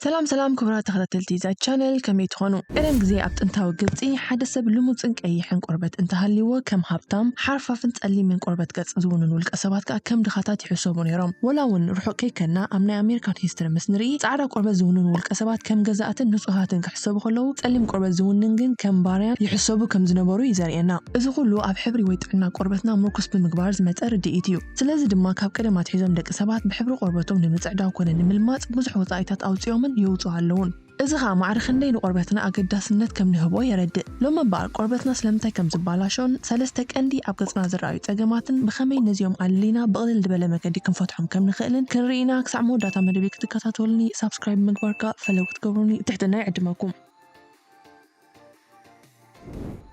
ሰላም ሰላም ክቡራት ተኸታተልቲ እዛ ቻነል ከመይ ትኾኑ? ቀደም ግዜ ኣብ ጥንታዊ ግብጺ ሓደ ሰብ ልሙጽን ቀይሕን ቆርበት እንተሃልይዎ ከም ሃብታም፣ ሓርፋፍን ጸሊምን ቆርበት ገጽ ዝውንን ውልቀ ሰባት ከኣ ከም ድኻታት ይሕሰቡ ነይሮም። ወላ እውን ርሑቕ ከይከድና ኣብ ናይ ኣሜሪካን ሂስትሪ ምስ ንርኢ ጻዕዳ ቆርበት ዝውንኑ ውልቀ ሰባት ከም ገዛእትን ንጹሃትን ክሕሰቡ ከለዉ ጸሊም ቆርበት ዝውንን ግን ከም ባርያን ይሕሰቡ ከም ዝነበሩ እዩ ዘርእየና። እዚ ኩሉ ኣብ ሕብሪ ወይ ጥዕና ቆርበትና ምርኩስ ብምግባር ዝመጸ ርድኢት እዩ። ስለዚ ድማ ካብ ቀደም ኣትሒዞም ደቂ ሰባት ብሕብሪ ቆርበቶም ንምጽዕዳው ኮነ ንምልማጽ ብዙሕ ወጻኢታት ኣውጺኦምን የውጽኡ ኣለዉን። እዚ ከኣ ማዕረ ክንደይ ንቆርበትና ኣገዳስነት ከም ንህቦ የረድእ። ሎሚ እምበኣር ቆርበትና ስለምንታይ ከም ዝባላሾን ሰለስተ ቀንዲ ኣብ ገጽና ዝረኣዩ ጸገማትን ብኸመይ ነዚኦም ኣለሊና ብቕልል ድበለ መገዲ ክንፈትሖም ከም ንኽእልን ክንርኢ ኢና ክሳዕ መወዳእታ መደብይ ክትከታተሉኒ ሳብስክራይብ ብምግባር ከኣ ፈለው ክትገብሩኒ ብትሕትና ይዕድመኩም።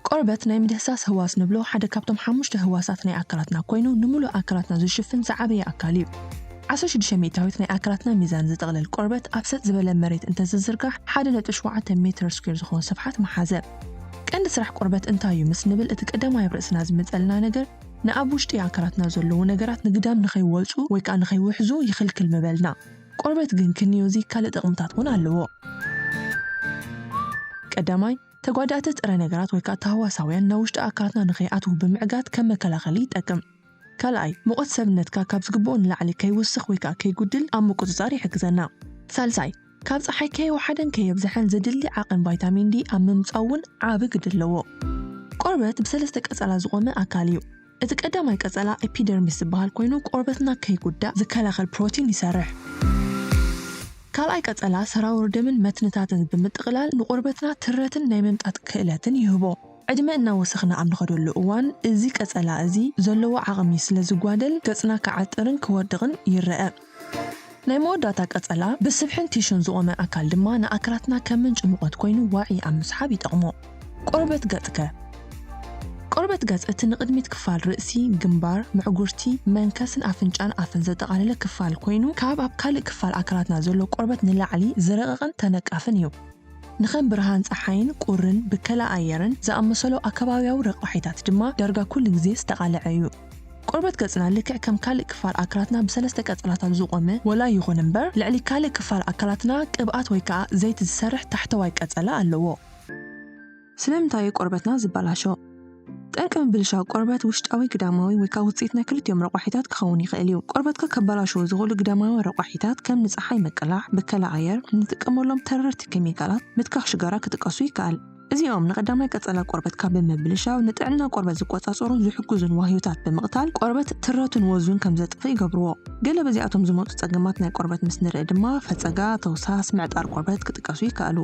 ቆርበት ናይ ምድህሳስ ህዋስ ንብሎ ሓደ ካብቶም ሓሙሽተ ህዋሳት ናይ ኣካላትና ኮይኑ ንምሉእ ኣካላትና ዝሽፍን ዝዓበየ ኣካል እዩ። ዓሰርተ ሽዱሽተ ሚእታዊት ናይ ኣካላትና ሚዛን ዝጥቕልል ቆርበት ኣብ ሰጥ ዝበለ መሬት እንተዝዝርጋሕ ሓደ ነጥቢ ሸውዓተ ሜትር ስኩዌር ዝኾን ስፍሓት ምሓዘ። ቀንዲ ስራሕ ቆርበት እንታይ እዩ ምስ ንብል እቲ ቀዳማይ ኣብ ርእስና ዝመጸልና ነገር ንኣብ ውሽጢ ኣካላትና ዘለዉ ነገራት ንግዳም ንኸይወጹ ወይ ከኣ ንኸይውሕዙ ይኽልክል ምበልና። ቆርበት ግን ክንዮ እዚ ካልእ ጠቕምታት እውን ኣለዎ። ቀዳማይ፣ ተጓዳእቲ ጥረ ነገራት ወይ ከኣ ታህዋሳውያን ናብ ውሽጢ ኣካላትና ንኸይኣትዉ ብምዕጋት ከም መከላኸሊ ይጠቅም። ካልኣይ፣ ሙቐት ሰብነትካ ካብ ዝግብኦ ንላዕሊ ከይውስኽ ወይ ከኣ ከይጉድል ኣብ ምቁጽጻር ይሕግዘና። ሳልሳይ፣ ካብ ጸሓይ ከየውሓደን ከየብዝሐን ዘድሊ ዓቕን ቫይታሚን ዲ ኣብ ምምጻኡ እውን ዓቢ ግደ ኣለዎ። ቆርበት ብሰለስተ ቀጸላ ዝቖመ ኣካል እዩ። እቲ ቀዳማይ ቀጸላ ኤፒደርሚስ ዝበሃል ኮይኑ ቆርበትና ከይጉዳእ ዝከላኸል ፕሮቲን ይሰርሕ። ካልኣይ ቀጸላ ሰራውር ደምን መትንታትን ብምጥቕላል ንቆርበትና ትረትን ናይ ምምጣጥ ክእለትን ይህቦ። ዕድመ እናወሰኽና ኣብ ንኸደሉ እዋን እዚ ቀጸላ እዚ ዘለዎ ዓቕሚ ስለ ዝጓደል ገጽና ክዓጥርን ክወድቕን ይረኣ። ናይ መወዳእታ ቀጸላ ብስብሕን ቲሹን ዝቖመ ኣካል ድማ ንኣካላትና ከም ምንጪ ሙቐት ኮይኑ ዋዒ ኣብ ምስሓብ ይጠቕሞ። ቆርበት ገጽከ? ቆርበት ገጽ እቲ ንቕድሚት ክፋል ርእሲ፣ ግንባር፣ ምዕጉርቲ፣ መንከስን ኣፍንጫን ኣፍን ዘጠቓለለ ክፋል ኮይኑ ካብ ኣብ ካልእ ክፋል ኣካላትና ዘሎ ቆርበት ንላዕሊ ዝረቐቐን ተነቃፍን እዩ። ንከም ብርሃን ጸሓይን ቁርን ብከላ ኣየርን ዝኣመሰሉ ኣከባብያዊ ረቋሒታት ድማ ዳርጋ ኩሉ ግዜ ዝተቓልዐ እዩ። ቆርበት ገጽና ልክዕ ከም ካልእ ክፋል ኣካላትና ብሰለስተ ቀጸላታት ዝቖመ ወላ ይኹን እምበር፣ ልዕሊ ካልእ ክፋል ኣካላትና ቅብኣት ወይ ከኣ ዘይቲ ዝሰርሕ ታሕተዋይ ቀጸላ ኣለዎ። ስለምንታይ እዩ ቆርበትና ዝበላሾ? ጠንቂ ምብልሻው ቆርበት ውሽጣዊ ግዳማዊ ወይ ከኣ ውጽኢት ናይ ክልቲኦም ረቋሒታት ክኸውን ይኽእል እዩ። ቆርበትካ ከበላሽዉ ዝኽእሉ ግዳማዊ ረቋሒታት ከም ንጸሓይ ምቅላዕ፣ ብከላ ኣየር፣ ንጥቀመሎም ተረርቲ ኬሚካላት፣ ምትካኽ ሽጋራ ክጥቀሱ ይከኣል። እዚኦም ንቀዳማይ ቀጸላ ቆርበትካ ብምብልሻው ንጥዕና ቆርበት ዝቆጻጸሩን ዝሕግዙን ዋህዮታት ብምቕታል ቆርበት ትረቱን ወዙን ከም ዘጥፍእ ይገብርዎ። ገለ በዚኣቶም ዝመጹ ጸገማት ናይ ቆርበት ምስ ንርኢ ድማ ፈጸጋ፣ ተውሳስ፣ ምዕጣር ቆርበት ክጥቀሱ ይከኣሉ።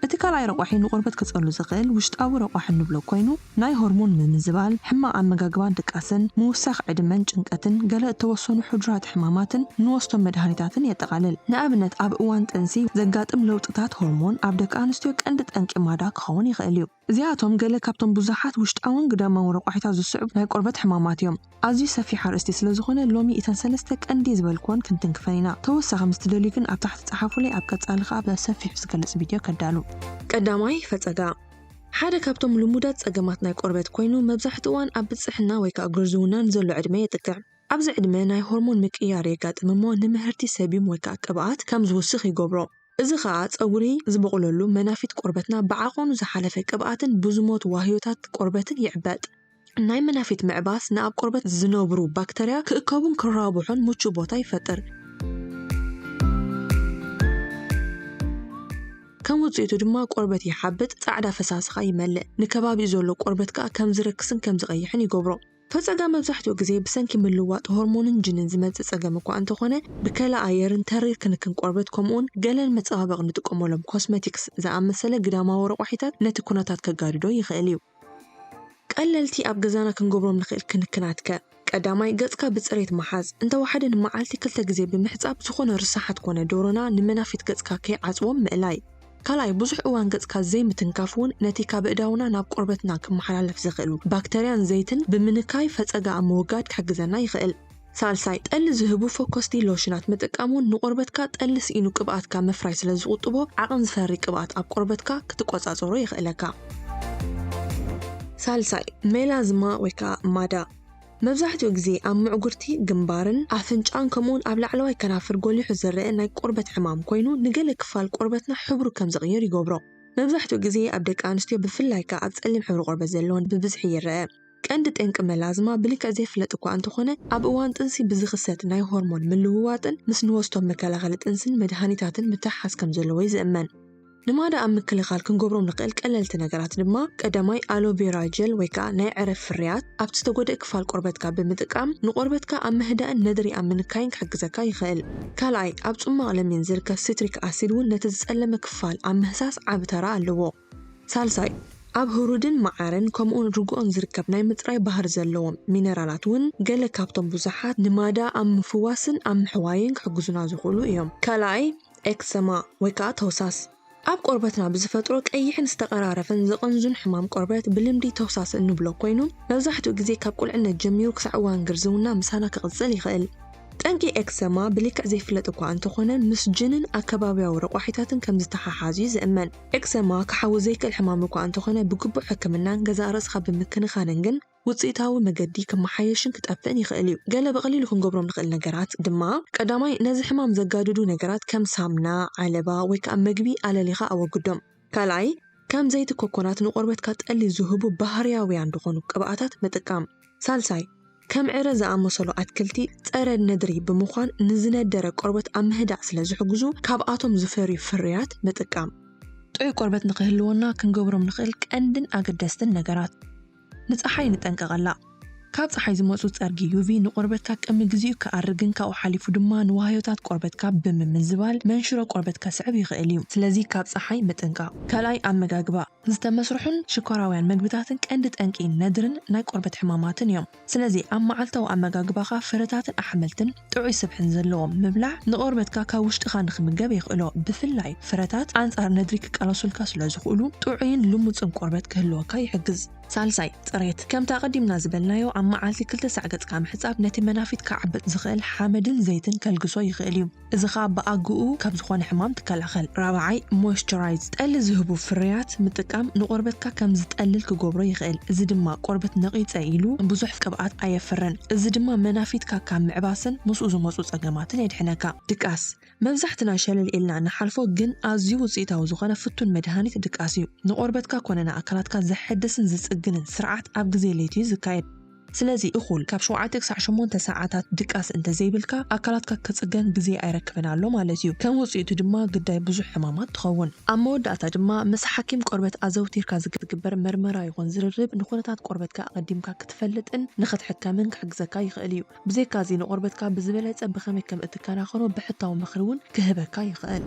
እቲ ካልኣይ ረቋሒ ንቆርበት ከጸሉ ዝኽእል ውሽጣዊ ረቋሒ እንብሎ ኮይኑ ናይ ሆርሞን ምምዝባል፣ ሕማቕ ኣመጋግባን ድቃስን፣ ምውሳኽ ዕድመን ጭንቀትን፣ ገለ እተወሰኑ ሕዱራት ሕማማትን እንወስዶም መድሃኒታትን የጠቓልል። ንኣብነት ኣብ እዋን ጥንሲ ዘጋጥም ለውጥታት ሆርሞን ኣብ ደቂ ኣንስትዮ ቀንዲ ጠንቂ ማዳ ክኸውን ይኽእል እዩ። እዚኣቶም ገለ ካብቶም ብዙሓት ውሽጣውን ግዳማውን ረቋሒታት ዝስዕቡ ናይ ቆርበት ሕማማት እዮም። ኣዝዩ ሰፊሕ ኣርእስቲ ስለ ዝኾነ ሎሚ እተን ሰለስተ ቀንዲ ዝበልክወን ክንትንክፈን ኢና። ተወሳኺ ምስ ትደልዩ ግን ኣብ ታሕቲ ጸሓፉለይ ኣብ ቀጻሊ ከኣ በሰፊሑ ዝገልጽ ቪድዮ ከዳሉ። ቀዳማይ፣ ፈጸጋ ሓደ ካብቶም ልሙዳት ጸገማት ናይ ቆርበት ኮይኑ መብዛሕትኡ እዋን ኣብ ብጽሕና ወይ ከኣ ግርዝውና ንዘሎ ዕድመ የጥቅዕ። ኣብዚ ዕድመ ናይ ሆርሞን ምቅይያር የጋጥም እሞ ንምህርቲ ሰቢም ወይ ከኣ ቅብኣት ከም ዝውስኽ ይገብሮ። እዚ ከኣ ጸጉሪ ዝበቑለሉ መናፊት ቆርበትና ብዓቐኑ ዝሓለፈ ቅብኣትን ብዙሞት ዋህዮታት ቆርበትን ይዕበጥ። ናይ መናፊት ምዕባስ ንኣብ ቆርበት ዝነብሩ ባክተርያ ክእከቡን ክራቡሑን ምቹእ ቦታ ይፈጥር። ከም ውጽኢቱ ድማ ቆርበት ይሓብጥ፣ ጻዕዳ ፈሳሲ ከኣ ይመልእ። ንከባቢኡ ዘሎ ቆርበት ከኣ ከም ዝረክስን ከም ዝቐይሕን ይገብሮ። ፈጸጋ መብዛሕትኡ ግዜ ብሰንኪ ምልዋጥ ሆርሞንን ጅንን ዝመጽእ ጸገም እኳ እንተኾነ፣ ብከላ ኣየርን ተሪር ክንክን ቆርበት ከምኡውን ገለ ንመጸባበቒ ንጥቀመሎም ኮስመቲክስ ዝኣመሰለ ግዳማዊ ረቋሒታት ነቲ ኩነታት ከጋድዶ ይኽእል እዩ። ቀለልቲ ኣብ ገዛና ክንገብሮም ንኽእል ክንክናት ከ? ቀዳማይ፣ ገጽካ ብጽሬት ምሓዝ። እንተ ወሓደ ንመዓልቲ ክልተ ግዜ ብምሕጻብ ዝኾነ ርሳሓት ኮነ ዶሮና ንመናፊት ገጽካ ከይዓጽዎም ምእላይ። ካልኣይ፣ ብዙሕ እዋን ገጽካ ዘይምትንካፍ እውን ነቲ ካብ ኣእዳውና ናብ ቆርበትና ክመሓላለፍ ዝኽእሉ ባክተርያን ዘይትን ብምንካይ ፈጸጋ ኣብ ምውጋድ ክሕግዘና ይኽእል። ሳልሳይ፣ ጠሊ ዝህቡ ፈኮስቲ ሎሽናት ምጥቃም እውን ንቆርበትካ ጠሊ ስኢኑ ቅብኣት ካብ ምፍራይ ስለ ዝቑጥቦ ዓቕን ዝፈሪ ቅብኣት ኣብ ቆርበትካ ክትቆጻጸሮ የኽእለካ። ሳልሳይ፣ ሜላዝማ ወይ ከኣ ማዳ መብዛሕትኡ ግዜ ኣብ ምዕጉርቲ ግንባርን ኣፍንጫን ከምኡውን ኣብ ላዕለዋይ ከናፍር ጎሊሑ ዝረኣ ናይ ቆርበት ሕማም ኮይኑ ንገለ ክፋል ቆርበትና ሕብሩ ከም ዝቕይር ይገብሮ። መብዛሕትኡ ግዜ ኣብ ደቂ ኣንስትዮ ብፍላይ ከኣ ኣብ ጸሊም ሕብሪ ቆርበት ዘለወን ብብዝሒ ይረኣ። ቀንዲ ጠንቂ መላዝማ ብልክዕ ዘይፍለጥ እኳ እንተኾነ፣ ኣብ እዋን ጥንሲ ብዝኽሰት ናይ ሆርሞን ምልውዋጥን ምስ ንወስዶም መከላኸሊ ጥንሲን መድሃኒታትን ምትሕሓዝ ከም ዘለዎ'ዩ ዝእመን። ንማዳ ኣብ ምክልኻል ክንገብሮም ንኽእል ቀለልቲ ነገራት ድማ፣ ቀዳማይ ኣሎ ቬራ ጀል ወይ ከኣ ናይ ዕረ ፍርያት ኣብቲ ዝተጎድኤ ክፋል ቆርበትካ ብምጥቃም ንቆርበትካ ኣብ ምህዳእን ነድሪ ኣብ ምንካይን ክሕግዘካ ይኽእል። ካልኣይ ኣብ ጽሟቕ ለሚን ዝርከብ ሲትሪክ ኣሲድ እውን ነቲ ዝጸለመ ክፋል ኣብ ምህሳስ ዓቢ ተራ ኣለዎ። ሳልሳይ፣ ኣብ ህሩድን መዓርን ከምኡውን ርግኦን ዝርከብ ናይ ምጽራይ ባህሪ ዘለዎም ሚነራላት እውን ገለ ካብቶም ብዙሓት ንማዳ ኣብ ምፍዋስን ኣብ ምሕዋይን ክሕግዙና ዝኽእሉ እዮም። ካልኣይ፣ ኤክሰማ ወይ ከኣ ተውሳስ፣ ኣብ ቆርበትና ብዝፈጥሮ ቀይሕን ዝተቐራረፈን ዝቕንዙን ሕማም ቆርበት ብልምዲ ተውሳስ እንብሎ ኮይኑ፣ መብዛሕትኡ ግዜ ካብ ቁልዕነት ጀሚሩ ክሳዕ እዋን ግርዝውና ምሳና ክቕጽል ይኽእል። ጠንቂ ኤክሰማ ብልክዕ ዘይፍለጥ እኳ እንተኾነ ምስ ጅንን ኣከባብያዊ ረቋሒታትን ከም ዝተሓሓዝ እዩ ዝእመን። ኤክዘማ ክሓዊ ዘይክእል ሕማም እኳ እንተኾነ ብግቡእ ሕክምናን ገዛእ ርእስኻ ብምክንኻንን ግን ውጽኢታዊ መገዲ ክመሓየሽን ክጠፍእን ይኽእል እዩ። ገለ ብቐሊሉ ክንገብሮም ንኽእል ነገራት ድማ፣ ቀዳማይ ነዚ ሕማም ዘጋድዱ ነገራት ከም ሳምና፣ ዓለባ ወይ ከኣ መግቢ ኣለሊኻ ኣወግዶም። ካልኣይ ከም ዘይቲ ኮኮናት ንቆርበትካ ጠሊ ዝህቡ ባህርያውያን ዝኾኑ ቅብኣታት ምጥቃም። ሳልሳይ፣ ከም ዕረ ዝኣመሰሉ ኣትክልቲ ጸረ ነድሪ ብምዃን ንዝነደረ ቆርበት ኣብ ምህዳእ ስለ ዝሕግዙ ካብኣቶም ዝፈርዩ ፍርያት ምጥቃም። ጥዑይ ቆርበት ንኽህልወና ክንገብሮም ንኽእል ቀንድን ኣገደስትን ነገራት። ንጸሓይ ንጠንቀቐላ። ካብ ጸሓይ ዝመጹ ጸርጊ፣ UV፣ ንቆርበትካ ቅድሚ ግዜኡ ክኣርግን ካብኡ ሓሊፉ ድማ ንዋህዮታት ቆርበትካ ብምምዝባል መንሽሮ ቆርበት ከስዕብ ይኽእል እዩ። ስለዚ ካብ ጸሓይ ምጥንቃቕ። ካልኣይ፣ ኣመጋግባ። ዝተመስርሑን ሽኮራውያን መግብታትን ቀንዲ ጠንቂ ነድርን ናይ ቆርበት ሕማማትን እዮም። ስለዚ ኣብ መዓልታዊ ኣመጋግባኻ ፍረታትን ኣሕምልትን ጥዑይ ስብሕን ዘለዎም ምብላዕ ንቆርበትካ ካብ ውሽጥኻ ንኽምገብ የኽእሎ። ብፍላይ ፍረታት ኣንጻር ነድሪ ክቃለሱልካ ስለዝኽእሉ ጥዑይን ልሙጽን ቆርበት ክህልወካ ይሕግዝ። ሳልሳይ፣ ጽሬት። ከምቲ ኣቐዲምና ዝበልናዮ ኣብ መዓልቲ ክልተ ሳዕ ገጽካ ምሕጻብ ነቲ መናፊት ክዓብጥ ዝኽእል ሓመድን ዘይትን ከልግሶ ይኽእል እዩ። እዚ ኸኣ ብኣግኡ ካብ ዝኾነ ሕማም ትከላኸል። ራብዓይ፣ Moisturize፣ ጠሊ ዝህቡ ፍርያት ምጥቃም ንቆርበትካ ከም ዝጠልል ክገብሮ ይኽእል፣ እዚ ድማ ቆርበት ነቒጸ ኢሉ ብዙሕ ቅብኣት ኣየፍርን፣ እዚ ድማ መናፊትካ ካብ ምዕባስን ምስኡ ዝመጹ ጸገማትን የድሕነካ። ድቃስ፣ መብዛሕትና ሸለል ኢልና ንሓልፎ ግን ኣዝዩ ውጽኢታዊ ዝኾነ ፍቱን መድሃኒት ድቃስ እዩ። ንቆርበትካ ኮነ ንኣካላትካ ዘሐድስን ዝጽግንን ስርዓት ኣብ ግዜ ለይቲ እዩ ዝካየድ። ስለዚ እኹል ካብ ሸውዓተ ክሳዕ ሸሞንተ ሰዓታት ድቃስ እንተ ዘይብልካ፣ ኣካላትካ ክጽገን ግዜ ኣይረክብን ኣሎ ማለት እዩ። ከም ውጽኢቱ ድማ ግዳይ ብዙሕ ሕማማት ትኸውን። ኣብ መወዳእታ ድማ ምስ ሓኪም ቆርበት ኣዘውቲርካ ዝግበር መርመራ ይኹን ዝርርብ ንኹነታት ቆርበትካ ኣቐዲምካ ክትፈልጥን ንኽትሕከምን ክሕግዘካ ይኽእል እዩ። ብዘይካዚ ንቆርበትካ ብዝበለጸ ብኸመይ ከም እትከናኸኖ ብሕታዊ ምኽሪ እውን ክህበካ ይኽእል።